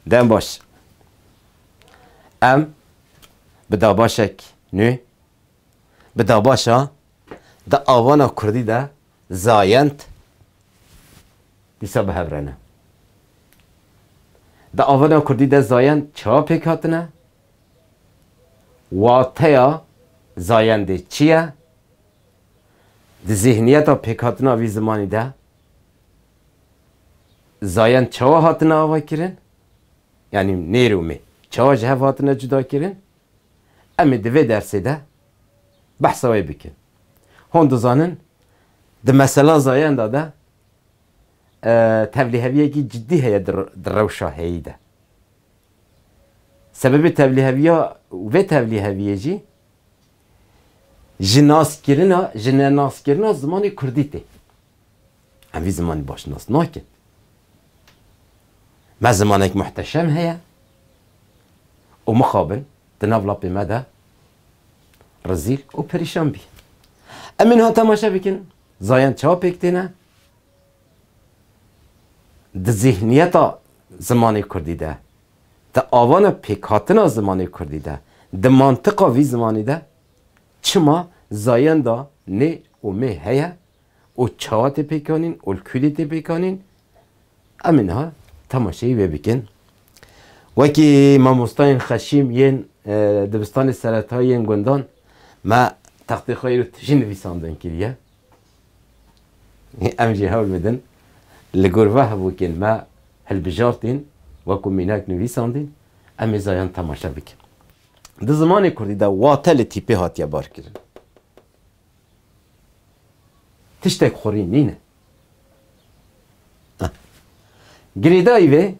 Dem baş. Em bi dabaşek nû, bi dabaşa di avana kurdî de zayend dîsa bi hev re ne. Di avana kurdî de zayend çawa pêk hatine? Wateya zayendê çi ye? Di zîhniyeta pêkhatina vî zimanî de Zayan çawa hatine avakirin? Yanî nêr û mê çawa ji hev hatine cudakirin? Em ê di vê dersê de behsa wê bikin. Hûn dizanin di mesela zayan de de tevliheviyekî cidî heye di rewşa heyî de. Sebebê tevliheviya vê tevliheviyê jî ji naskirina, ji nenaskirina zimanê kurdî tê. Em vî zimanê baş nas nakin. Me zimanek muhteşem heye û mixabin di nav lapê me de rizîl û perîşan bî. Em ê niha temaşe bikin zayan çawa pêk têne di zîhniyeta zimanê kurdî de, di avana pêkhatina zimanê kurdî de, di mantiqa vî zimanî de çima zayenda nê û mê heye û çawa tê pêk anîn û li kûdê tê pêk anîn em ê niha temaşeyî wê bikin. Wekî mamostayên xeşîm yên dibistanê seretayî yên gundan me textê xwe îro tijî nivîsandin kiriye. Em jî hewl bidin li gor ve hevokên me hilbijartîn wekû mînak nivîsandîn em ê zayan temaşe bikin. Di zimanê kurdî de wate li tîpê hatiye barkirin. Tiştek xurîn nîne. Girêdayî vê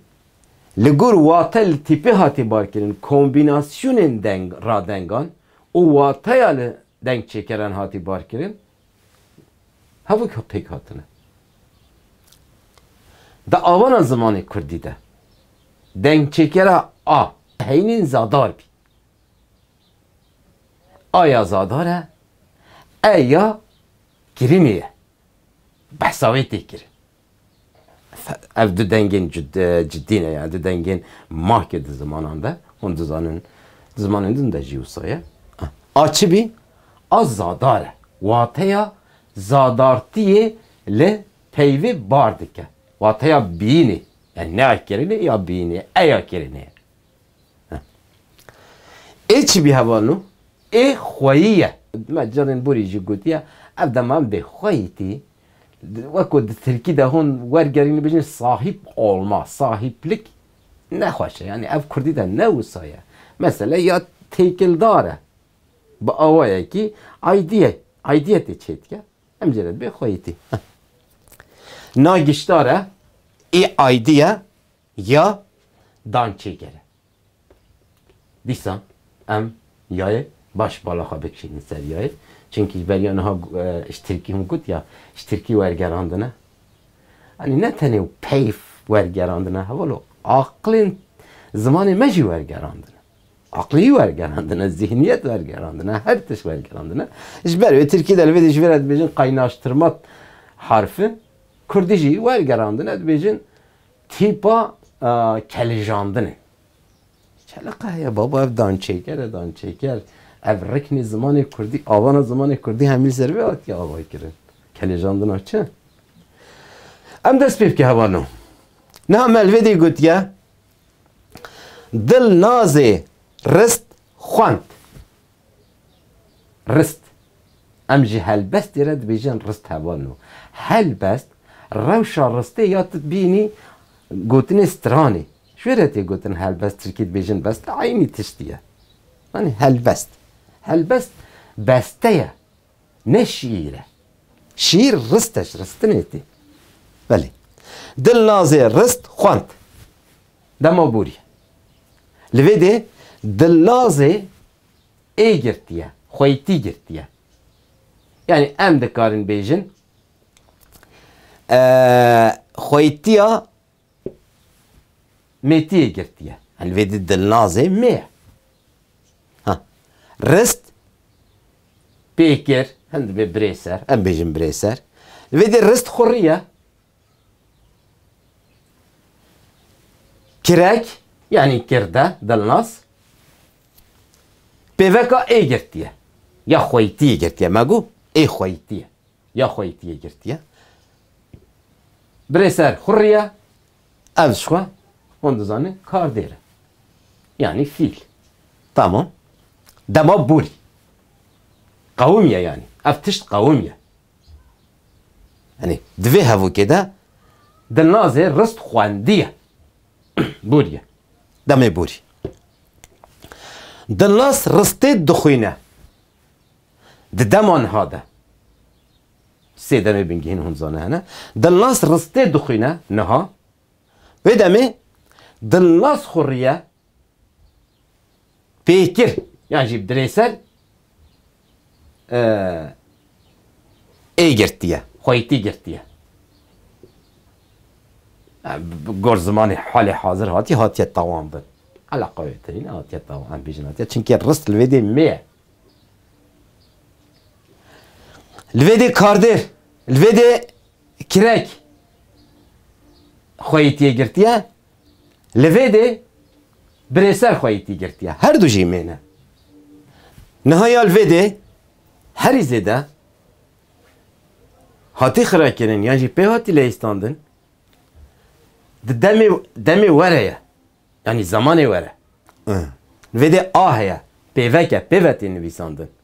li gor wate li tîpê hate barkirin, kombînasyonên deng radengan û wateya li dengçêkeran hate barkirin hevok pêk hatine. Di avana zimanê kurdî de dengçêkera a heynîn zadar bî. A ya Zadar e, e ya Kirimê ye. Behsa wê tê kirin. Ev du dengên cidî ne, yani du dengên mahkê di zimanan de, hûn dizanin di zimanên din de jî wisa ye. A çi bî, a Zadar e. Wateya Zadartiyê li peyvê bar dike. Wateya biyînê. Yani ne ya kirinê, ya biyînê ye. E ya kirinê ye. Ê çi bî hevalno ê xweyî ye. Me carên borî jî gotiye ev deman bê xweyî tî. Weko di tirkî de hûn wergerîn dibêjin sahîp olma, sahîplik ne xweş e. Yanî ev kurdî de ne wisa ye. Mesele ya têkildar e. Bi awayekî aydîye, aydîyetê çê dike. Em jê re dibê xweyî tî. Na giştare ê aydîye Ya dan çêkere. Dîsa em yayê baş bala xwe bikişînin ser yayê. Çimkî ji ber ya niha ji Tirkî hûn got ya ji Tirkî wergerandine. Anî ne tenê peyv wergerandine hevalo aqilên zimanê me jî wergerandine. Aqilî wergerandine, zîhniyet wergerandine, her tişt wergerandine. Ji ber wê Tirkî de li vê de ji vê re dibêjin kaynaştirma harfi, Kurdî jî wergerandine dibêjin Tîpa kelijandin e. Kele qe heye baba ev dançêker e dançêker. Ev riknê zimanê kurdî avana zimanê kurdî hemî li ser vê hatiye avakirin. Kelijandina çi? Em dest pê bike heval no. Niha me li vê dê gotiye Dil nazê rist xwend. Rist, em ji helbestê re dibêjin rist heval û helbest, rewşa ristê ya tu bînî gotinê stranê. Ji wê re tê gotin helbest tirkî dibêjin best eynî tiştî ye. Anî helbest. Helbest beste ye ne şîîr e. Şîîr rist e ji ristinê tê. Belê. Dilnazê rist xwend. Dema borî. Li vê dê Dilnazê ê girtiye, xweîtî girtiye. Yanî em dikarin bêjin xweîtiya mêtiyê girtiye. Yanî li vê dê Dilnazê mê ye. Ha. Rist pê kir, hin dibê birêser, em bêjin birêser. Li vê dê rist xurî ye. Kirek yanî kirde dilnas pêveka ê girtiye ya xweytiyê girtiye me got ê xweytiye ya xweytiyê girtiye. Birê ser xurriye ev jixwe hûn dizanin kardêr e yanî fîl tamam dema bûrî qewimiye yanî ev tişt qewimiye Yanî di vê hevokê de Dilnazê rist xwendiye. Bûriye. Demê bûrî. Dilnaz ristê dixwîne. Di dema niha de. Sê demê bingehîn hûn zane hene. Dilnaz ristê dixwîne niha. Wê demê Dilnaz xwe riye Pêkir yan jî dirêser ê girtiye, xweytî girtiye. Bi gor zimanê halê hazir hatî hatiye tawanbin. Ala qewêtirîn hatiye tawanbin. Em bêjin hatiye çimkî rist li vê dê mê ye. Li vê dê kardêr, li vê dê kirek xweytîyê girtiye. Li vê dê birê ser xwe yî tî girtiye. Her du jî mê ne. Niha ya li vê dê herî zêde hatî xirekirin yan jî pê hatî leyîstandin di demê demê were ye. Yanî zemanê were. Li vê dê a heye, pêvek e, pêve tê nivîsandin.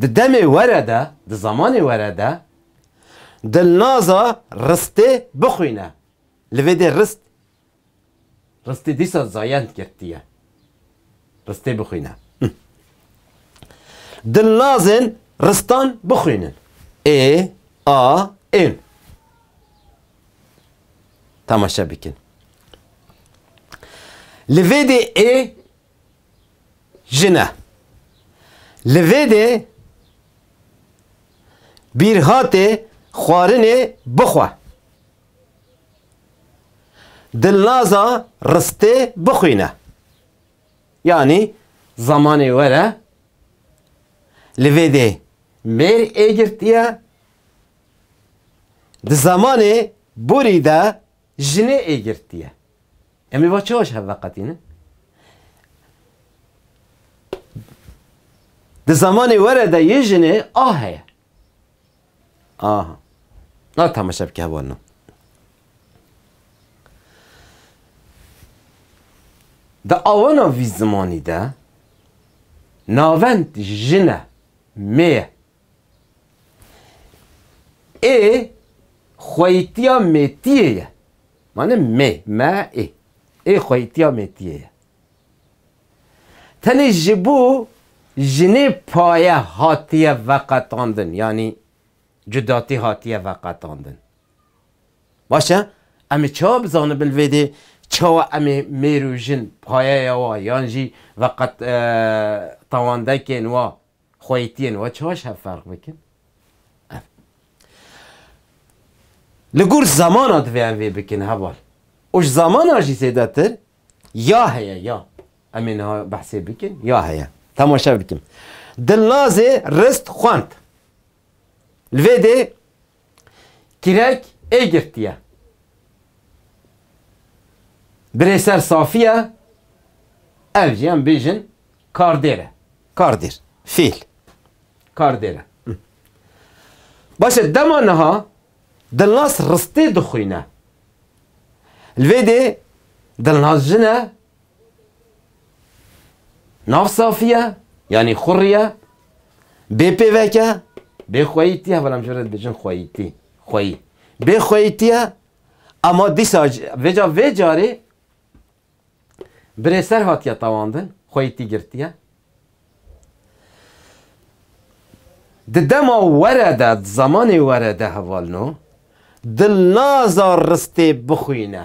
Di demê were de, di zamanê were de Dilnaza Ristê bixwîne. Li vê dê Rist Ristê dîsa zayend girtiye. Ristê bixwîne. Dilnazên Ristan bixwînin. Ê, a, ên. Temaşe bikin. Li vê dê ê jin e. Li vê dê bîrhatê xwarinê bixwe. Dilnaza ristê bixwîne. Yanî zamanê were li vê dê mêr ê girtiye. Di zamanê borî de Jinê ê girtiye. Em ê va çawa ji hev veqetînin? Di zamanê were de yê jinê a heye. Aha. Na temaşe bike heval na. Di awana vî zimanî de navend jine, mêye Ê xweyîtiya mêtiyê ye. Mane mê, me, ê. Ê xweyîtiya mêtiyê ye. Tenê ji bo jinê paye hatiye veqetandin yanî cudatî hatiye veqetandin. Baş e, em ê çawa bizanibin li vê dê çawa em ê mêr û jin payeya wan yan jî veqet tawandekên wan Xweytiyên we çawa ji hev ferq bikin? Ev. Li gor zamana divê em vê bikin heval. Û ji zamana jî zêdetir ya heye ya. Em ê niha behsê bikin ya heye. Temaşe bikin. Dilnazê Rist xwend. Li vê dê Kirek ê girtiye. Birê ser safî ye, ev jî em bêjin kardêr e. Kardêr, fêl. Kardêr e. Baş e, dema niha Dilnaz ristê dixwîne. Li vê dê Dilnaz jin e. Nav safiye, yanî xurriye, bê pêveke, bê xweyîtiye, belam ji red bijin xweyîtî, xweyî. Bê xweyîtiye, ama dîsa vêca vê carê birê ser hatiye tawandin, xweyîtî girtiye. Di dema were de, di zamanê were de hevalno, dil naza ristê bixwîne.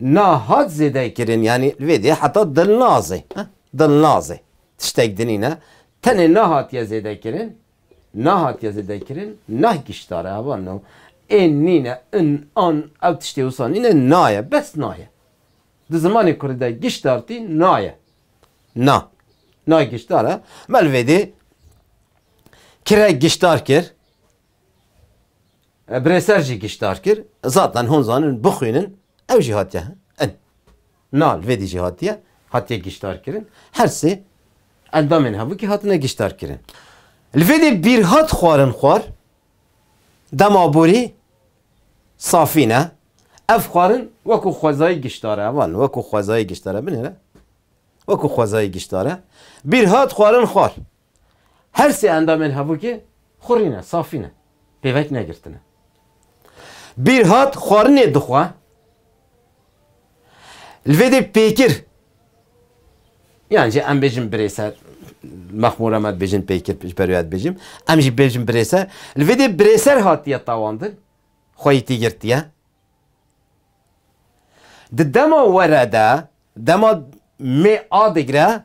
Na hat zêdekirin yanî li vê dê heta dilnazê, dilnazê tiştek din nîne, tenê na hatiye zêdekirin, na hatiye zêdekirin, nah giştare ava no, ên nîne, in, an, ew tiştê wisa nîne, na ye, bes na ye. Di zimanê kurdî de giştartî na ye. Na. Na giştar e. Me li vê dê kirek giştar kir. Birêser jî giştdar kir, Zaten hûn zanin bixwînin ew jî hatiye in. Nal vêdî jî hatiye hatiye giştdar kirin. Her sê endamên hevûkî hatine giştdar kirin. Li vêdî bîr hat xwarin xwar dema borî safî ne. Ev xwarin wekû xwezayî giştdar e. Van wekû xwezayî giştdar e. Binêre wekû xwezayî giştdar e. Bîr hat xwarin xwar. Her sê endamên hevokê xurîn e, safî ne, pêvek negirtine. Bîrhat xwarinê dixwe, li vê dê pêkir yan jî em bêjin birêse, Mexmûr Rama dibêjin pêkir ji ber wê ya dibêjim, em jî bêjin birêse, li vê dê birêser hatiye tawandin, xweyî tî girtiye. Di dema were de, dema mêr a digre,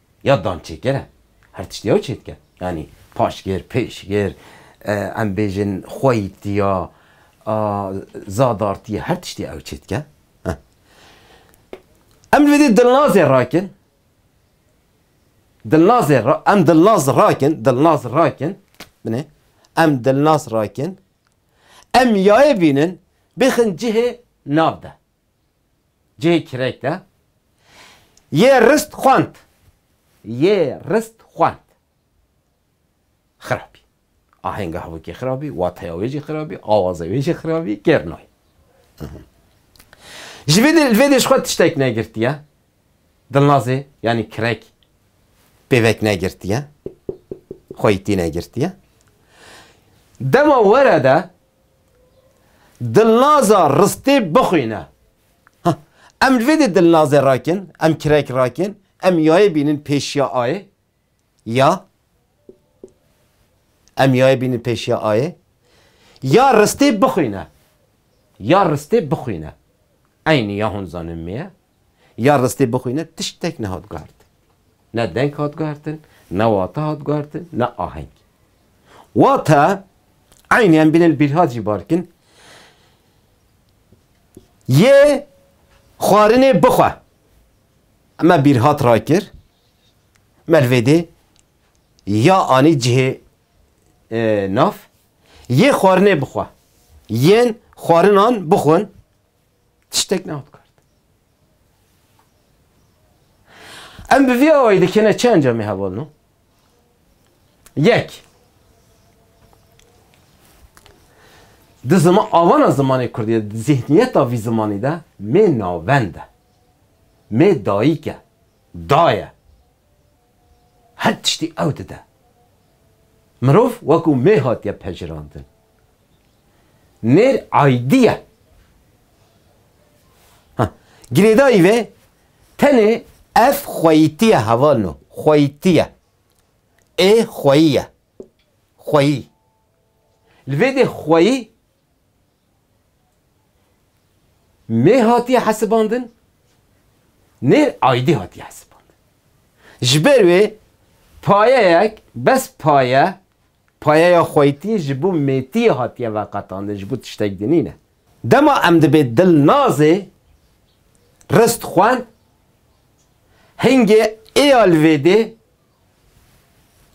ya dançêker e. Her tişt yew çê dike. Yanî paşgir, pêşgir, em bêjin xweyîtî ya, zadartî ya her tiştî ew çê dike. Em li vê dê dilnazê rakin, dilnazê ra, em dilnaz rakin, dilnaz rakin, binê, em dilnaz rakin, em yayê bînin bixin cihê nav de. cihê kirek de yê rist xwend. Yê rist xwend. Xirabî. Ahênga hevokê xirabî, wateya wê jî xirabî, awaza wê jî xirabî, kêr nayê. Ji vê dê li vê dê ji xwe tiştek negirtiye. Dilnazê yanî kirek pêvek negirtiye. Xweyî tî negirtiye. Dema were de Dilnaza ristê bixwîne. Ha, em li vê dê dilnazê rakin, em kirek rakin, em yayê bînin pêşiya ayê. Ya. Em yayê bînin pêşiya ayê. Ya ristê bixwîne. Ya ristê bixwîne. Eynî ya hûn zanîn me ye, Ya ristê bixwîne tiştek nehat guhertin. Ne deng hat guhertin, ne wate hat guhertin, ne aheng. Wate, eynî em bînin bîrhat jî barkin, yê xwarinê bixwe. Me bîrhat rakir, mervêdê ya anî cihê nav, yê xwarinê bixwe, yên xwarinan bixwin, Tiştek nav dikard. Em bi vî awayî dikêne çi encamê heval no? Yek. Di zima avana zimanê Kurdî de, di zîhniyeta vî zimanî de mê navend e. Mê dayîk e. Daye. Her tiştî ew dide. Mirov wekû mê hatiye pejirandin. Nêr aydî ye. Ha, girêdayî vê tenê ev xweyîtî ye heval no, xweyîtî ye. Ê xweyî ye. Xweyî. Li vê dê xweyî. Mê hatiye hesibandin, nêr aydî hatiye hesibandin. Ji ber wê payeyek bes paye, payeya xweytî ji bo mêtiyê hatiye veqetandin, ji bo tiştek din nîne. Dema em dibê Dilnazê rist xwend, hingê êalvêdê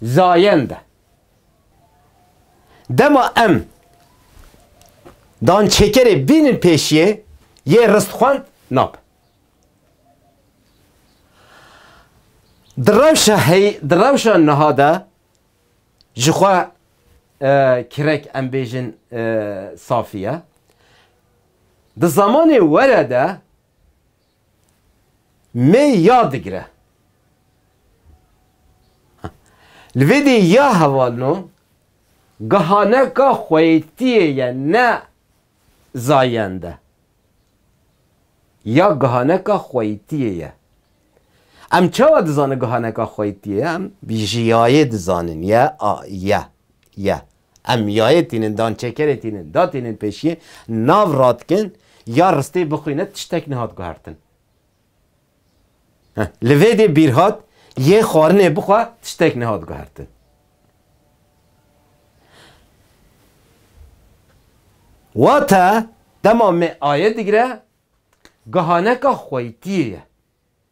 Zayen de. Dema em dançêkerê bînin pêşiyê yê ristxwend nabe. Di rewşa hey di rewşa niha de ji xwe kirek em bêjin safî ye. Di zamanê were de Mê ya digire. Li vê dê ya hevalno gihaneka xweytiyê ye ne zayende. Ya gihaneka xweytiyê ye. Em çawa dizanin gihaneka xweytiyê ye? Em jiyayê dizanin ye a ye ye. Em yayê tînin, dançêkerê tînin, da tînin pêşiyê, nav ra dikin, ya ristê bixwîne tiştek nehat guhertin. Heh, li vê dê bîr hat, yê xwarinê bixwe tiştek nehat guhertin. Wate dema me aye digire, gihaneka xweytiyê ye.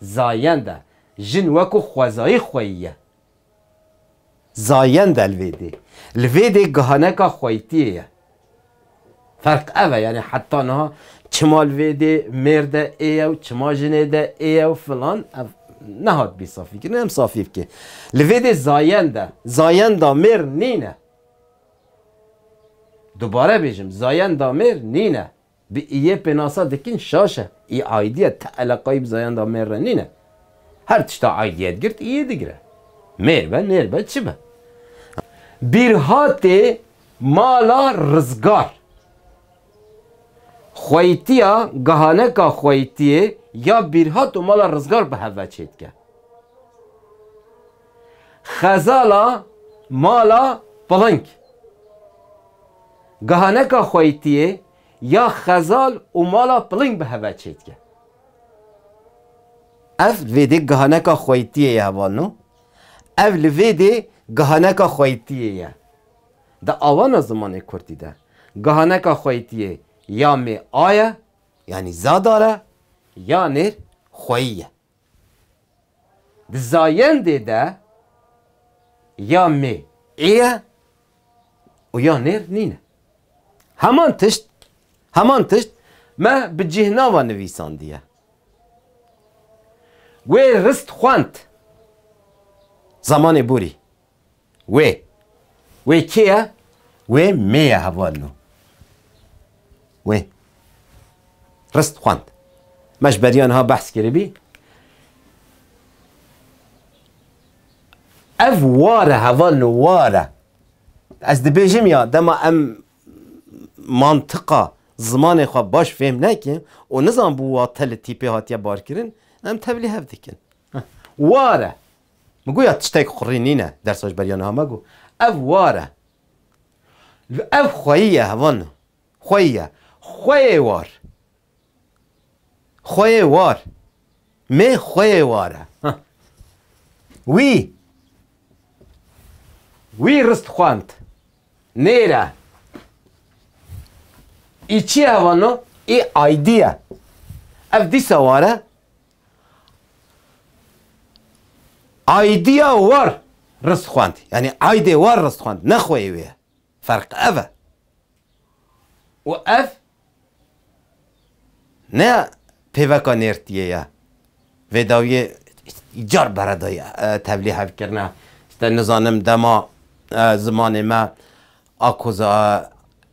Zayende, jin weko xwezayî xweyî ye. Zayende, lvêdê, lvêdê gihaneka xweyîtiyê ye. Ferq ev e, yanî heta niha çima lvêdê mêrde ê ye û çima jinê de ê ye û filan ev nehat bî safîkirin, em safî bike. Lvêdê zayend e, zayenda mêr nîne. Dubare bêjim, zayenda mêr nîne. Bi iyê pênasa dikin şaş e. Î aîdiya ti eleqayî bi zayenda mêr re nîne. Her tişta aîdiyet girt iyê digire. Mêr be, nêr be, çi be. Bîrhatê mala rizgar. Xweyîtiya gihaneka xweyîtiyê ya bîrhat û mala rizgar bi hev ve çêdike. Xezala mala piling. Gihaneka xweytiyê ya xezal û mala piling bi heve çêdike. Ev li vê dê gihaneka xweytiyê ye hevalno. Ev li vê dê gihaneka xweytiyê ye. Di awana zimanê kurdî de gihaneka xweytiyê ya mê a ye, yanî zadar e, ya nêr xweyî ye. Di zayendê de ya mê ê ye û ya nêr nîne. Heman tişt, heman tişt me bi cîhnava nivîsandiye. Wê rist xwend zamanê borî. Wê. Wê kê ye? Wê mê ye hevalino. Wê. Rist xwend. Me ji beriya niha behs kiribî. Ev ware hevalino ware. Ez dibêjim ya dema em mantiqa zimanê xwe baş fêm nekin û nizanbû wate li tîpê hatiye barkirin em tevlî hev dikin. Ware. Min got ya tiştek qurî nîne dersa ji ber ya niha me got ev war e. Ev xweyî ye hevan xweyî ye. Xweyê war. Xweyê war. Mê xweyê war e. Wî wî rist xwend. Nêre. Î çi ye hevan no? Î aydî ye. Ev dîsa war e. Aidîya war rist xwend yanî aidê war rist xwend ne xweyê wê ye. Ferq ev e. Û ev ne pêveka nêrtîyê ye. Vê dawîyê car bere dayî tevlî hevkirine nizanim dema zimanê me a koza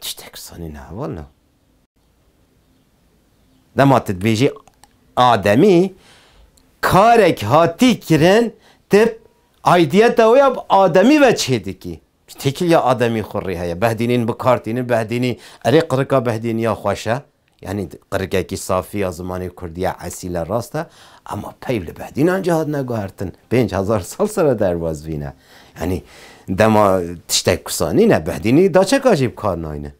Tiştek sanî neheval na. Dema tu dibêjî ademî karek hatî kirin tu aidiyeta wê ya bi ademî ve çêdikî. Bi têkiliya ademî xwe rê heye. Behdînîn bi kar tînin, behdînî erê qirika behdîniya xweş e. Yanî qirikekî safî ya zimanê kurdî ya esîl e rast e ema peyv li behdînan jî hatine guhertin pênc hezar sal sere derbas vîne. Yanî dema tiştek kusa nîne behdînî daçeka jî bi kar nayne.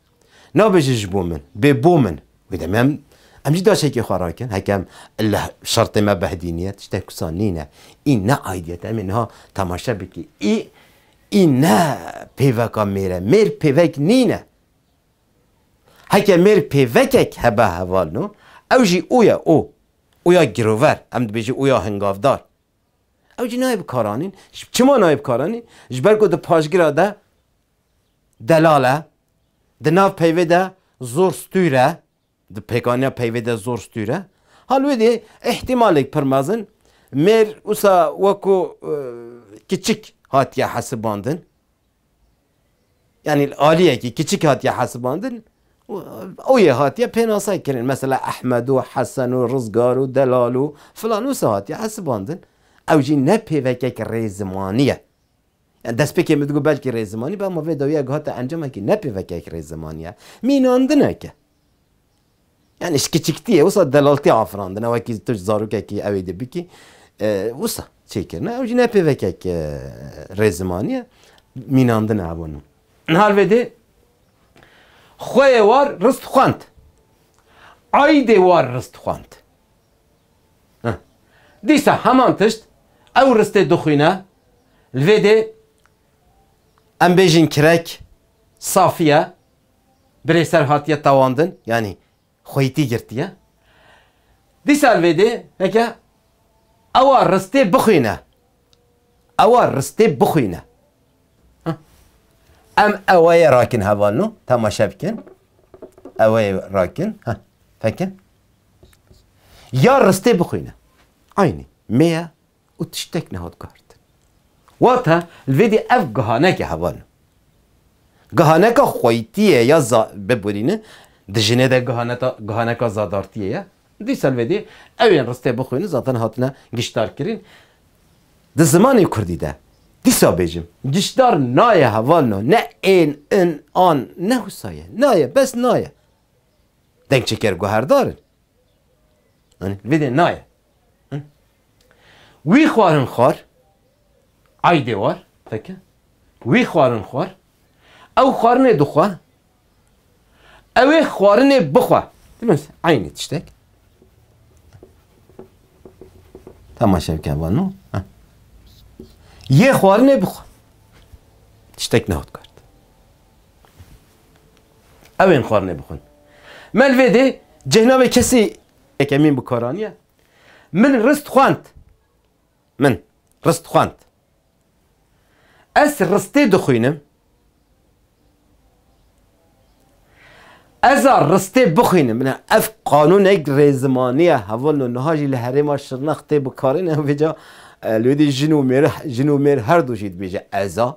Nabêje ji bo min bê bo min wê demê em em jî daçekê xwe rakin heke em li şertê me behdînî ye tiştek kusa nîne. Î ne aîdiyet e em ê niha temaşe bikî î î ne pêveka mêr e mêr pêvek nîne. Heke mêr pêvekek hebe heval no, ew jî û ye û, û ya girover, em dibêjin û ya hingavdar. Ew jî nayê bikaranîn. Çima nayê bikaranîn? Ji ber ku di paşgira de delal e, di nav peyvê de zor stûr e. Di pêkaniya peyvê de zor stûr e. Halwedî îhtîmalek pir mezin mêr wisa weko kiçik hatiye hesibandin. Yanî li aliyekî kiçik hatiye hesibandin û ew yê hatiye pênase kirin. Mesela Ehmed û Hesen û Rizgar û Delal û filan wisa hatiye hesibandin. Ew jî ne pêvekek rêzimanî ye. Yan destpêkê min digot belkî rêzimanî be ama vê dawiya giha te encamekî ne pêvekek rêzimanî ye, mînandine ke. Yanî ji kiçiktiyê wisa delaltî afirandine wekî tu ji zarokekî ewê dê bikî wisa çêkirine ew jî ne pêvekek rêzimanî ye, mînandine hevû nû. Niha li vê dê xweyê war riz dixwend, aîdê war riz dixwend. Dîsa heman tişt ew ristê dixwîne, li vê dê em bêjin kirek, safiye, birêser hatiye tewandin, yanî xweytî girtiye. Dîsa li vê dê heke ewa ristê bixwîne, ewa ristê bixwîne. Em ewayê rakin hevalno, temaşe bikin. Ewayê rakin, fekin. Ya ristê bixwîne. Aynî me ye û tiştek nehat guhertin. Wate li vê dî ev gihaneke hevan e. Gihaneka xweyîtiyê ya za biborîne di jinê de gihaneta gihaneka zadartiyê ye. Dîsa li vê dî ew ên ristê bixwîne zaten hatine giştdarkirin. Di zimanê kurdî de dîsa bêjim giştdar naye hevalno ne ên, in, an ne wisa ye. Naye bes naye. Deng çeker guherdar in. Anî vê dê naye. Wî xwarin xwar aydê war feke. Wî xwarin xwar ew xwarinê dixwe. Ew ê xwarinê bixwe. Dimez aynê tiştek. Temaşe bike vano. Yê xwarinê bixwe. Tiştek nehot kar. Ew ên xwarinê bixwin. Melvêdê cihna wê kesî eke mîn bi kar aniye. Min rist xwend. Min rist xwend. Ez ristê dixwînim. Ez a ristê bixwînim. Bina ev qanûnek rêzimaniye hevalin û niha jî li herêma Şirnex tê bikarin. Ew vêca li wê dî jin û mêr jin û mêr her du jî dibêje ez a.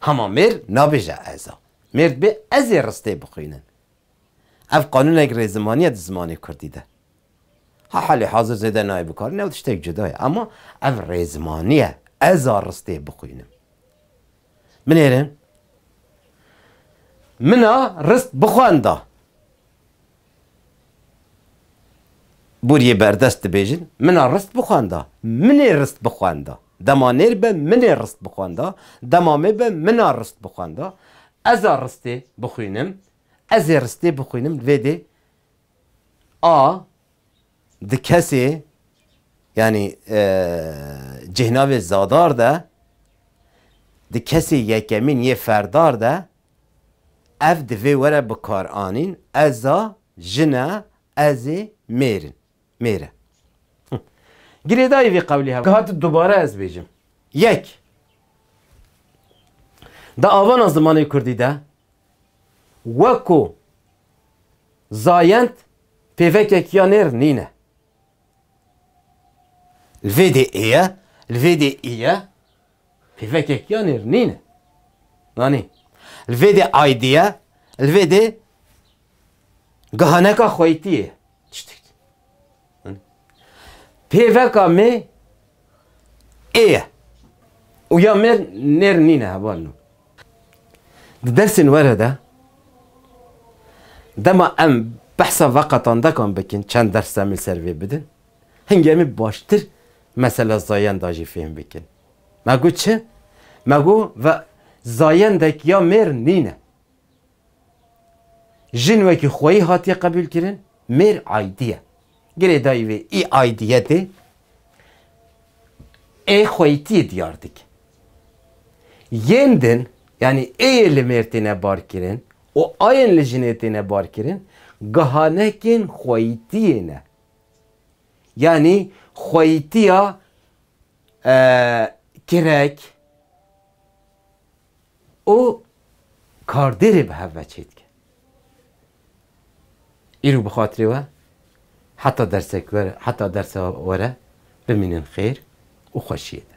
Hama mêr nabêje ez a. Mêr dibê ez ê ristê bixwînin. Ev qanûnek rêzimanî ye di zimanê kurdî de. Ha halê hazir zêde nayê bikarin ew tiştek cuda ye ama ev rêzimanî ye ez a ristê bixwînim. Binêrin. Min a rist bixwenda. Bûriyê berdest dibêjin, Min a rist bixwenda, min ê rist bixwenda. Dema nêr be min ê rist bixwenda, dema mê be min a rist bixwenda. Ez a ristê bixwînim, ez ê ristê bixwînim. Li vê dê a di kesê yanî cêhnavê zadar de, di kesê yekemîn yê ferdar de Ev divê were bikaranîn, ez a, jin e, ez ê, mêr in, mêr e. Girêdayî vê qewlî hev hat dubare ez bêjim. Yek, Di avana zimanê kurdî de weko zayend pêvekek ya nêr nîne. Li vê dê ê ye, li vê dê î ye. Pêvekek ya nêr nîne. Nanî. Li vê dê aydî ye, li vê dê gihaneka xweytî ye. Tiştek. Pêveka me ê ye. Û ya me nêr nîne heval no. Di dersên were de dema em behsa veqetandekan bikin çend ders em li ser vê bidin. Hingê em ê baştir mesela zayenda jî fêm bikin. Me got çi? Me got ve zayendek ya mêr nîne. Jin wekî xweyî hatiye qebûlkirin, mêr aydî ye. Girêdayî vê ê aydiyetê ê xweyîtiyê diyar dike. Yên din, yanî êyê li mêr têne barkirin û ayên li jinê têne barkirin, gihanekên xweyîtiyê ne. Yanî xweyîtiya kirek û kardêrê bi hev ve çêdike. Îro bi xatirê we heta dersek were heta dersa were bimînin xêr û xweşiyê de.